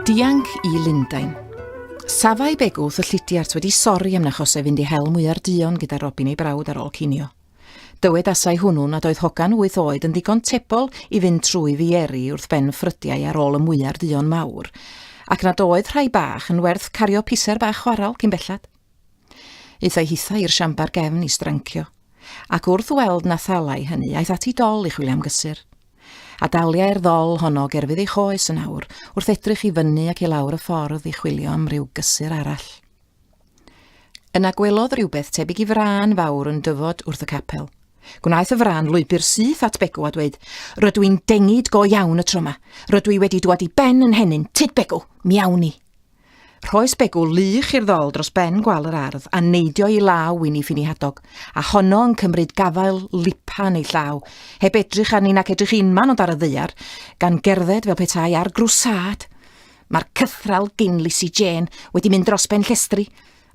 Dianc i Lundain. Safai begwth y llidiart wedi sori am na chosef fynd i hel mwyar duon gyda Robin ei brawd ar ôl cinio. Dywedasai hwnnw nad oedd hogan wyth oed yn ddigon tebol i fynd trwy fieri wrth ben ffrydiau ar ôl y mwyar duon mawr, ac nad oedd rhai bach yn werth cario piser bach chwarel cyn belled. Aethai hithau i'r siambar gefn i strancio, ac wrth weld na thalai hynny, aeth ati dol i chwilio am gysur. A daliai'r ddol honno gerfydd ei choes yn awr wrth edrych i fyny ac i lawr y ffordd i chwilio am ryw gysur arall. Yna gwelodd rhywbeth tebyg i frân fawr yn dyfod wrth y capel. Gwnaeth y frân lwybr syth at Begw a dweud, Rydw i'n dengid go iawn y tro yma. Rydw i wedi dwad i ben yn henyn, tyd Begw, mi awn ni. Rhoes Begw lych i'r ddol dros ben gwal yr ardd a neidio i law Wini Ffini Hadog, a honno yn cymryd gafael lipan ei llaw, heb edrych arni nac edrych unman ond ar y ddaear, gan gerdded fel petai ar grwsâd. Mae'r cythraul gin Lisi Jên wedi mynd dros ben llestri,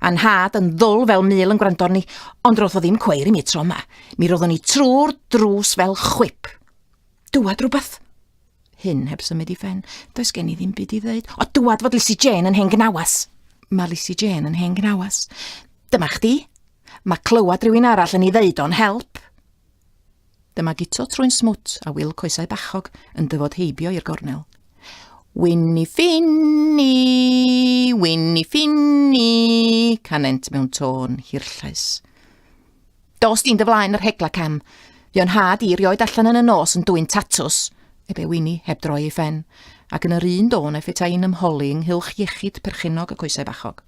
a nhad yn ddwl fel mul yn gwrando arni, ond ro'dd o ddim cweir i mi tro 'ma. Mi ro'ddwn i trw'r drws fel chwip. Dŵad rwbath? Hyn heb symud i phen. Does gen i ddim byd i ddeud. O, dŵad fod Lisi Jên yn hen gnawas. Mae Lisi Jên yn hen gnawas. Dyma chdi. Mae clywed rhywun arall yn ei ddeud o'n help. Dyma Guto trwy'n smwt a Wil coesau bachog yn dyfod heibio i'r gornel. Winni ffinni, winni ffinni, canent mewn tôn hirllais. Dos di'n dy flaen yr hegla cam. Fi o'n had i rioed allan yn y nos yn dwy'n tatws, ebe Winni heb droi ei ffen, ac yn yr un dôn efe tai'n ymholi ynghylch iechyd perchennog y coesau bachog.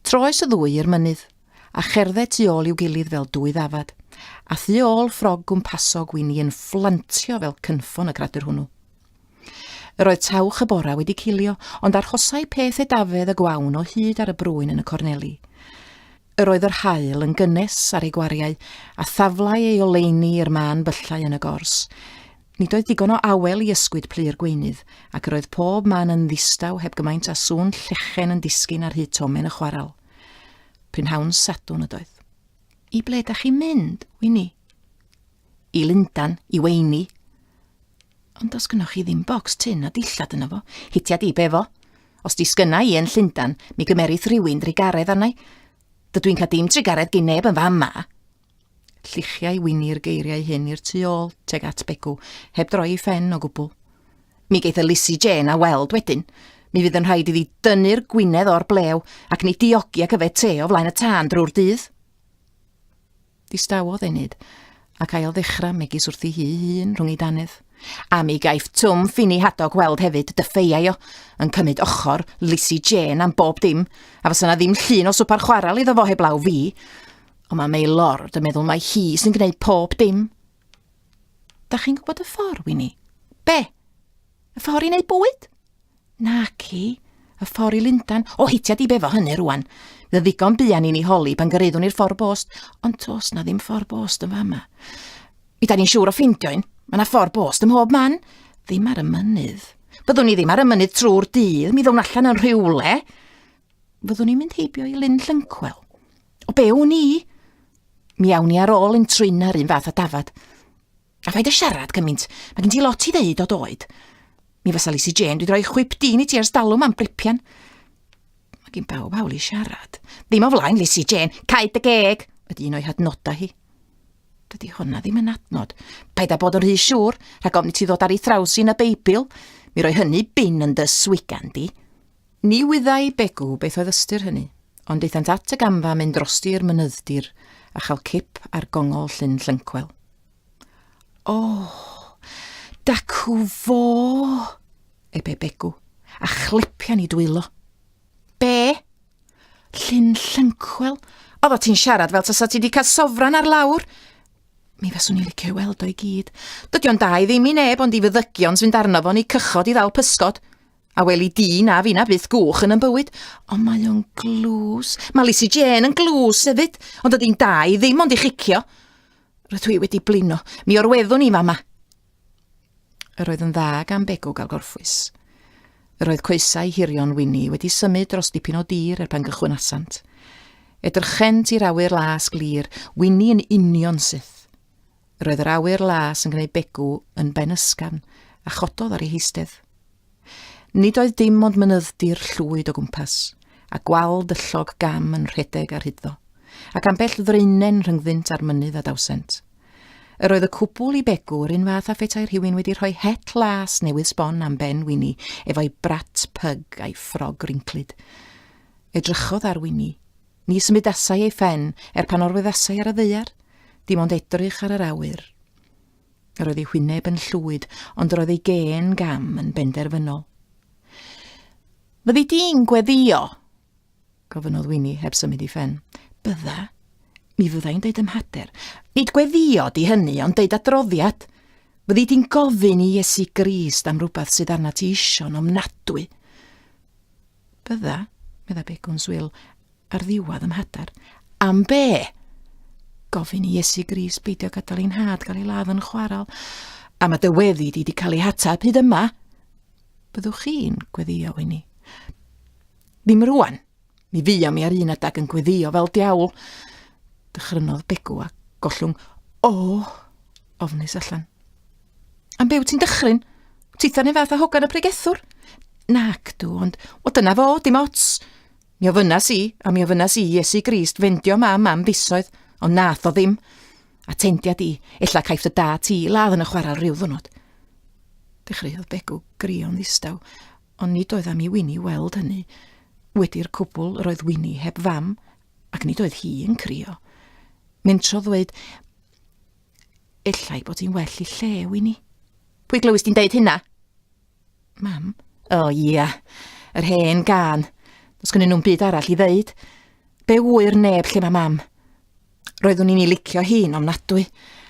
Troes y ddwy i'r mynydd, a cherdde tu ôl i'w gilydd fel dwy ddafad, a thu ôl ffrog gwmpasog wy'n i yn fflantio fel cynffon y gradur hwnnw. Yr oedd tawch y bora wedi cilio, ond arhosai peth edafedd y gwawn o hyd ar y brwyn yn y corneli. Yr oedd yr haul yn gynnes ar ei gwariau, a thaflai ei oleuni i'r mân byllau yn y gors. Nid oedd digon o awel i ysgwyd plu'r gweunydd, ac yr oedd pob man yn ddistaw heb gymaint a sŵn llechen yn disgyn ar hyd tomen y chwaral. Prynhawn Sadwn ydoedd. I ble da chi'n mynd, Wini? I Lundan, i Weini. Ond os gynnwch chi ddim bocs tyn a dillad yna fo, hitia di befo. Os di sgynna i yn Llundan, mi gymerith rhywun drigaredd arnau. Dydw i'n cael dim drigaredd gyn neb yn fam ma. Lluchiai Wini'r geiriau hyn i'r tu ôl, teg at Begw, heb droi ei phen o gwbl. Mi geith Elisi Jên a weld wedyn. Mi fydd yn rhaid iddi dynnu'r gwinedd o'r blew ac ni diogi ac yfed te o flaen y tân drwy'r dydd. Distawodd Enid, ac ail ddechrau megis wrthi hi hun rhwng ei danedd. A mi gaiff Twm Ffini Hadog weld hefyd, dyffeiau o, yn cymryd ochr Lisi Jên am bob dim, a fysa na ddim llun o swpar chwaral iddo fo heblaw fi. Ond mae Mei Lord yn meddwl mae hi sy'n gwneud pob dim. Da chi'n gwybod y ffordd, Winnie? Be? Y ffordd i wneud bwyd? Na ci, y ffordd i Lundan. O, heitio di befo hynny rwan. Bydd ddigon buan i ni holi pan gyreiddwn i'r ffordd bost, ond tos na ddim ffordd bost yn fama. Mi da ni'n siŵr o ffeindio un. Mae yna ffordd bost ym mhob man. Ddim ar y mynydd. Byddwn ni ddim ar y mynydd trwy'r dydd, mi ddown allan yn rhywle. Fyddwn ni'n mynd heibio i Lyn Llyncwel. O be wn i? Mi awn ni ar ôl yn trin ar un fath a dafad. A phaid â siarad cymaint, mae gen ti lot i ddeud o doed. Mi fasa Lisi Jane wedi rhoi chwip dyn i ti ers dalwm am bripian. Mae gen bawb hawl i siarad. Ddim o flaen Lisi Jane, caed dy geg, ydy un o'i hadnodau hi. Dydy honna ddim yn adnod. Paid â bod yn rhy siŵr, rhag ofn i ti ddod ar ei thraws i yn y Beibl. Mi roi hynny bin yn dy swigan di. Ni wyddai Begw beth oedd ystyr hynny, ond daethant at y gamfa mynd drosti i'r mynyddir a chael cip ar gongol Llyn Llyncwel. O! Dacw fo! ebe Begw, a chlepian i dwylo. Be? Llyn Llyncwel? Oedda ti'n siarad fel tasa ti wedi cael sofran ar lawr. Mi faswn i licio weld o'i gyd. Dydy o'n da i ddim i neb ond i fyddygion sy'n darno fo'n ei cychod i ddal pysgod. A weli di, na fi na byth gwch yn ymbywyd. Ond mae o'n glws. Mae Lisi Jane yn glws hefyd, ond ydy'n da i ddim ond i chicio. Roedd dwi wedi blino. Mi o'r weddwn i fama. Yr oedd yn dda gan Begw gael gorffwys. Yr oedd coesau hirion Winnie wedi symud dros dipyn o dir er pan gychwynasant. Edrychent i'r awyr las glir, Winnie yn union syth. Roedd yr awyr las yn gwneud Begw yn ben ysgafn a chododd ar ei heistedd. Nid oedd dim ond mynydddir llwyd o gwmpas, a gwal dyllog gam yn rhedeg ar hyddo, ac ambell ddreinen rhyngddynt a'r mynydd a dawsent. Yr oedd y cwbl i Begw yr un fath a phetai rhywun wedi rhoi het las newydd sbon am ben Wini efo'i brat pyg a'i ffrog rinclyd. Edrychodd ar Wini, Ni symudasai ei phen, er pan orweddasai ar y ddeiar, dim ond edrych ar yr awyr. Yr oedd ei hwyneb yn llwyd, ond yr oedd ei gen gam yn benderfynol. Fyddi di'n gweddio? Gofynodd Winnie heb symud i ffen. Bydda. Mi fyddai'n deud ymhader. Nid gweddio di hynny, ond deud adroddiad. Fyddi di'n gofyn i Iesu Grist am rhywbeth sydd arna ti isio'n ofnadwy. Bydda, medda Begw'n swil, ar ddiwedd ym hadar. Am be? Gofyn i Iesu Gris beidio gadael ein had gael ei ladd yn chwaral. A mae dy weddi di wedi cael ei hatab hyd yma. Byddwch chi'n gweddio i ni. Ddim rwan. Mi fyddion mi ar un adag yn gweddio fel diawl. Dychrynodd Begw a gollwng, o, ofnus allan. Am be wyt ti'n dychryn? Titha neu fath a hogan y pregethwr? Nac dw, ond, o dyna fo, dim ots. Mi ofynas i, a mi ofynas i Iesu Grist fendio mam am fisoedd, ond nath o ddim. A tendia di, ella caiff dy da ti ladd yn y chwarel rhyw ddwrnod. Dechreuodd Begw grio'n ddistaw, ond nid oedd am i Wini weld hynny. Wedi'r cwbl yr oedd Wini heb fam, ac nid oedd hi yn crio. Mentro ddweud, Efallai bod hi'n well i lle, Winnie. Pwy glywys di'n deud hynna? Mam? O, oh, ia. Yeah. Yr hen gan. Os gynnyn nhw'n byd arall i ddeud. Be wyr neb lle mae mam? Roeddwn i'n ei licio hi'n ofnadwy,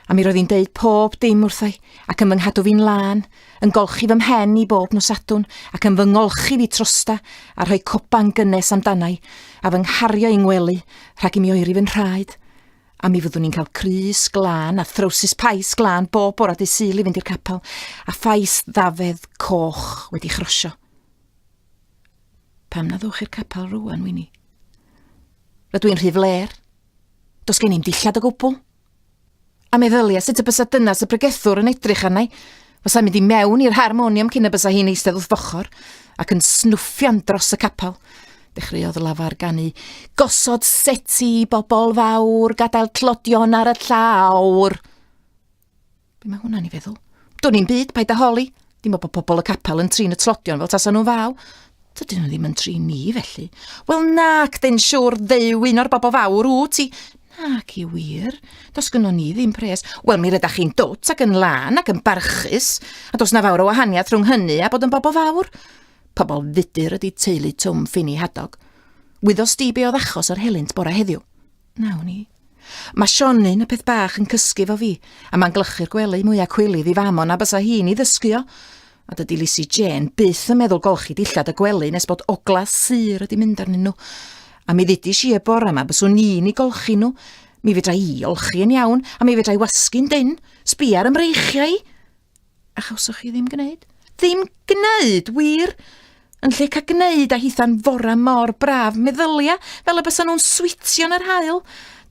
a mi roedd hi'n deud pob dim wrthai, ac yn fy nghadw fi'n lân, yn golchi fy mhen i bob nos adwn, ac yn fy ngolchi fi trosta, a rhoi coban gynnes amdanau, a fy nghario i'n ngwely, rhag i mi oeri fy nhraed. A mi fyddwn ni'n cael crys glân a throwsus pais glân bob bore dy syl i fynd i'r capel, a phais ddafedd coch wedi chrosio. Pam na ddwch i'r capel rwan, Wini? Rydw i'n rhy fler. Dos gen i'n dillad o gwbl. A meddylia sut y bysa dynas y pregethwr yn edrych arnau, Bysai'n mynd i mewn i'r harmonium cyn y bysa hi'n eistedd wrth fochr ac yn snwffian dros y capel. Dechreuodd lafar ganu. Gosod seti, bobl fawr, gadael tlodion ar y llawr. Be mae hwnna'n i feddwl? Dwn i'n byd, paid â holi. Dim ond bod pobl y capel yn trin y tlodion fel tasa nhw'n faw. Dydyn nhw ddim yn tri ni, felly. Wel nac, dyn siwr ddew un o'r bobl fawr wyt ti. Nac i wir, dos gynno ni ddim pres. Wel, mi rydach chi'n dwt ac yn lân ac yn barchus, a dos na fawr o wahaniaeth rhwng hynny a bod yn bobl fawr. Pobl fudur ydy teulu Twm Ffini Hadog. Wyddos di be oedd achos yr helynt bora heddiw? Nawn ni. Mae Sionyn, y peth bach, yn cysgu fo fi, a mae'n glychu'r gwely mwyaf cwilydd i fam o na bysa hi'n ei ddysgu o. A dydy Lisi Jên byth yn meddwl golchi dillad y gwely nes bod ogla sur wedi mynd arnyn nhw. A mi ddudis i y bore yma byswn i'n ei golchi nhw. Mi fedra i olchi yn iawn, a mi fedra i wasgu'n dyn. Sbia ar ymreichiau i! A chawsoch chi ddim gwneud? Ddim gwneud, wir! Yn lle cael gwneud a hitha'n fora mor braf, meddylia fel y bysa nhw'n switio yn yr hael.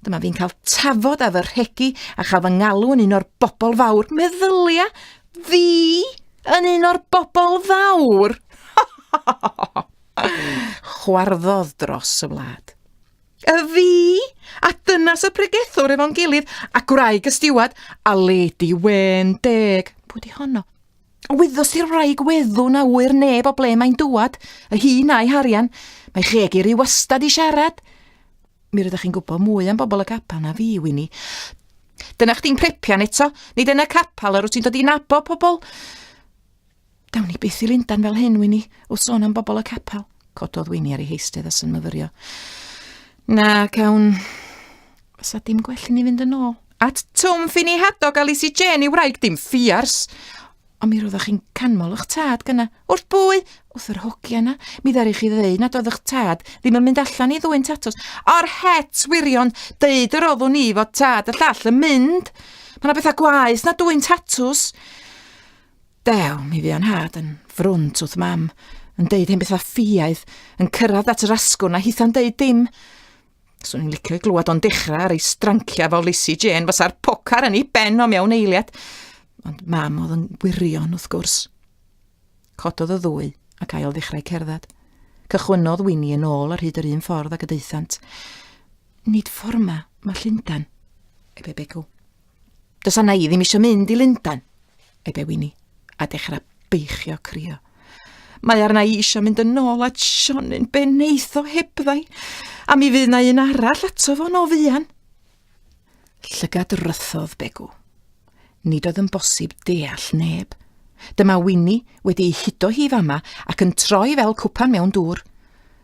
Dyma fi'n cael tafod a fy rhegi a chael fy ngalw yn un o'r bobl fawr. Meddylia fi yn un o'r bobl fawr! Chwarddodd dros y wlad. A fi! A dyna sut pregethwr efo'n gilydd, a gwraig y stiwad, a lady wen deg. Pwy di honno? Wyddos di'r wraig weddw na ŵyr neb o ble mae'n dŵad, y hun a'i harian. Mae cheg i ry wastad i siarad. Mi rydych chi'n gwybod mwy am bobl y capel na fi, Wini. Dyna chdi'n prepian eto, nid yn y capel yr wyt ti'n dod i nabod pobl. Dawn ni byth i Lundan fel hyn, Wini, wrth sôn am bobl y capel. Cododd Wini ar ei heistedd a sy'n myfyrio. Na, cawn... Fysa dim gwell i ni fynd yn ôl. At Twm Ffini Hadog a Lisi Jane i wraig dim ffiars. Ond mi roeddech chi'n canmol eich tad gyna. Wrth bwy? Wrth yr hogia yna. Mi ddari chi ddeu nad oedd eich tad ddim yn mynd allan i ddwy'n tatws. O'r het wirion, deud yr oddwn i fod tad y llall yn mynd. Mae yna bethau gwaeth na dwy'n tatws. Dew, mi fu o'n nhad yn frwnt wrth mam, yn deud hen bethau ffiaidd, yn cyrraedd at yr asgwrn a hitha'n deud dim. Swn i'n licio i glywed o'n dechrau ar ei stranciau fel Lisi Jane fysa'r pocar yn ei ben o mewn eiliad. Ond mam oedd yn gwirion wrth gwrs. Cododd y ddwy ac ail ddechrau cerdded. Cychwynnodd Winnie yn ôl ar hyd yr un ffordd ac y deithant. Nid ffordd ma, mae Llundan, ebe becw. Does anna i ddim eisiau mynd i Lundan, ebe Wini, a dechrau beichio crio. Mae arna i eisiau mynd yn ôl at Sionin be neitho hebddai, a mi fydd na un arall ato fo'n o fuan. Llygad rythodd Begw. Nid oedd yn bosib deall neb. Dyma Wini wedi ei hudo hi fama ac yn troi fel cwpan mewn dŵr.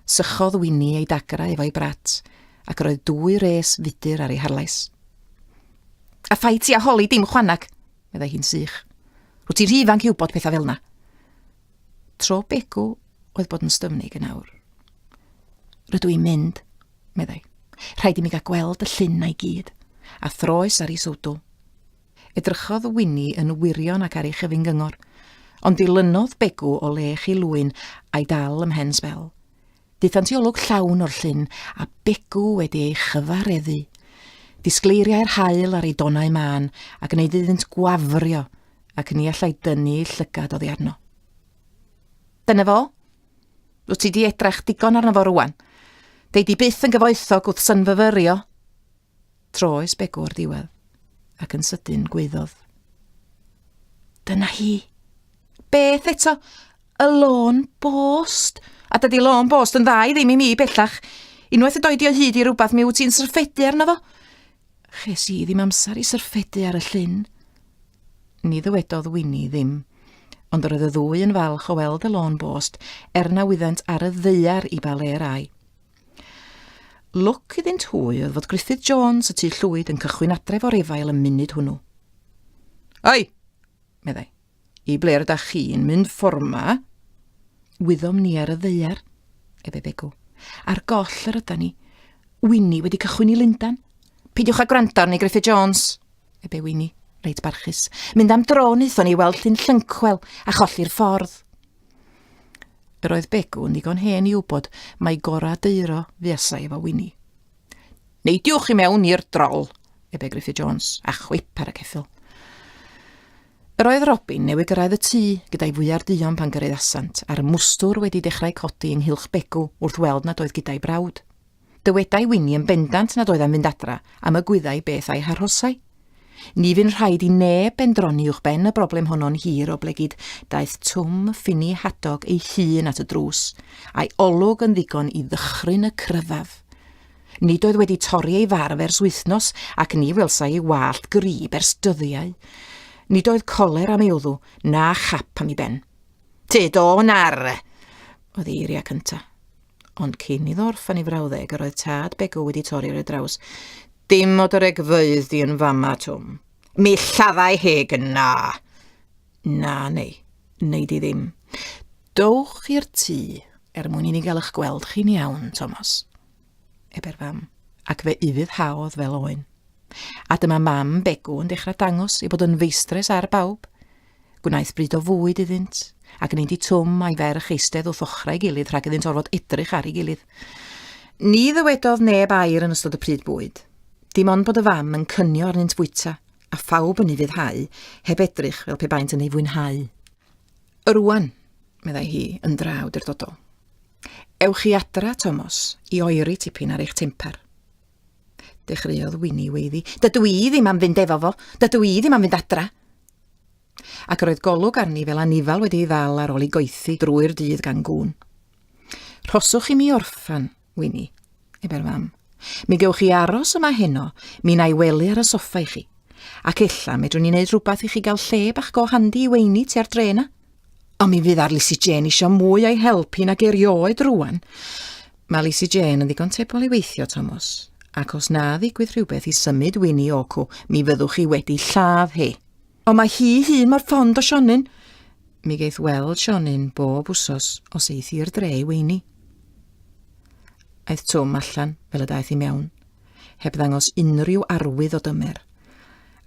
Sychodd Wini ei dagra efo'i brat, ac roedd dwy res fudur ar ei harlais. A phai ti a holi dim chwanag, meddai hi'n sych. Rwyt ti rhy ifanc i wybod pethau fel yna. Tro Begw oedd bod yn styfnig yn awr. Rydw i'n mynd, meddai. Rhaid i mi gael gweld y llun na'i gyd. A throes ar ei sowdw. Edrychodd Winni yn wirion ac ar ei chyfyn gyngor, ond dilynodd Begw o le chi lwyn a'i dal ymhen sbel. Daethant i olwg llawn o'r llyn a Begw wedi ei chyfareddu. Disgleiriai'r haul ar ei donau mân a gwneud iddynt gwafrio ac ni allai dynnu ei llygad oddi arno. Dyna fo. Wyt ti di edrach digon arno fo rwan. Dei di byth yn gyfoethog wrth synfyfyrio. Troes Begw o'r diwedd, ac yn sydyn gweiddodd. Dyna hi! Beth eto? Y lôn bost! A dydy lôn bost yn dda i ddim i mi bellach. Unwaith y doi di o hyd i rhywbeth mi wyt ti'n syrffedu arno fo. Ches i ddim amser i syrffedu ar y llyn. Ni ddywedodd Wini ddim, ond yr oedd y ddwy yn falch o weld y lôn bost, er na wyddant ar y ddeiar i ba le rai. Lwc iddynt hwy oedd fod Gruffydd Jones y tu llwyd yn cychwyn adref o'r efail y munud hwnnw. Ai! meddai. I ble rydych chi'n mynd fforma? Wyddom ni ar y ddeiar, efe begw. Ar goll yr yda ni. Winnie wedi cychwyn i Lundan. Peidiwch â gwrando arni, Griffith Jones, ebe Winnie, reit barchus. Mynd am dro wnaethon ni weld llun llynchwel a cholli'r ffordd. Yr oedd Begw yn ddigon hen i wybod mai gorau deiro fuasai efo Winnie. Neidiwch i mewn i'r drol, ebe Griffith Jones, a chwip ar y ceffil. Yr oedd Robin newydd gyrraedd y tŷ gyda'i fwyar duon pan gyrraedd asant, a'r mwstwr wedi dechrau codi ynghylch Begw wrth weld nad oedd gyda'i brawd. Dywedai Winnie yn bendant nad oedd am fynd adra am y gwyddai beth a'i harhosai. Ni fyn rhaid i neb bendroni uwch ben y broblem honno'n hir o blegid daeth Twm Ffini Hadog ei hun at y drws, a'i olwg yn ddigon i ddychryn y cryddaf. Nid oedd wedi torri ei farf ers wythnos ac ni welsai ei wallt grib ers dyddiau. Nid oedd coler am ei wddw, na chap am ei ben. Tyd o nar! oedd ei eiriau cyntaf. Ond cyn iddo orffen ei frawddeg, yr oedd tad Begw wedi torri ar ei draws. Dim o dy regfeydd di yn fama, Twm. Mi lladdai heg na! Na, neu, neu di ddim. Dowch i'r tŷ, er mwyn i ni gael eich gweld chi'n iawn, Thomas. Ebe'r fam, ac fe ufuddhaodd fel oen. A dyma mam Begw yn dechrau dangos ei bod yn feistres ar bawb. Gwnaeth bryd o fwyd iddynt, ac ni di Twm a'i ferch eistedd wrth ochrau gilydd rhag iddynt orfod edrych ar ei gilydd. Ni ddywedodd neb air yn ystod y pryd bwyd. Dim ond bod y fam yn cynio arnynt fwyta, a phawb yn ei fuddhau, heb edrych fel pe baent yn ei fwynhau. Rwan, meddai hi, yn draw durdodol. Ewch chi adra, Tomos, i oeri tipyn ar eich temper. Dechreuodd Wini weiddi. Dydw i ddim am fynd efo fo. Dydw i ddim am fynd adra. Ac yr oedd golwg arni fel anifal wedi ei ddal ar ôl i goethi drwy'r dydd gan gŵn. Rhoswch i mi orffan, Wini, ebe'r fam. Mi gewch chi aros yma heno, mi na i wely ar y soffa i chi. Ac ella medrwn ni wneud rhywbeth i chi gael lle bach go handi i weini tua'r dre yna. Ond mi fydd ar Lisi Jên isio mwy o'i help hi nag erioed rwan. Mae Lisi Jên yn ddigon tebol i weithio, Tomos. Ac os na ddigwydd rhywbeth i symud Winnie Oku, mi fyddwch chi wedi lladd hi. Ond mae hi hun mor fond o Sionyn. Mi geith weld Sionyn bob wsos os eith i'r dre i weini. Aeth Twm allan fel y daeth i mewn. heb ddangos unrhyw arwydd o dymer,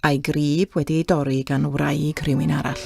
a'i grib wedi ei dorri gan wraig rhywun arall.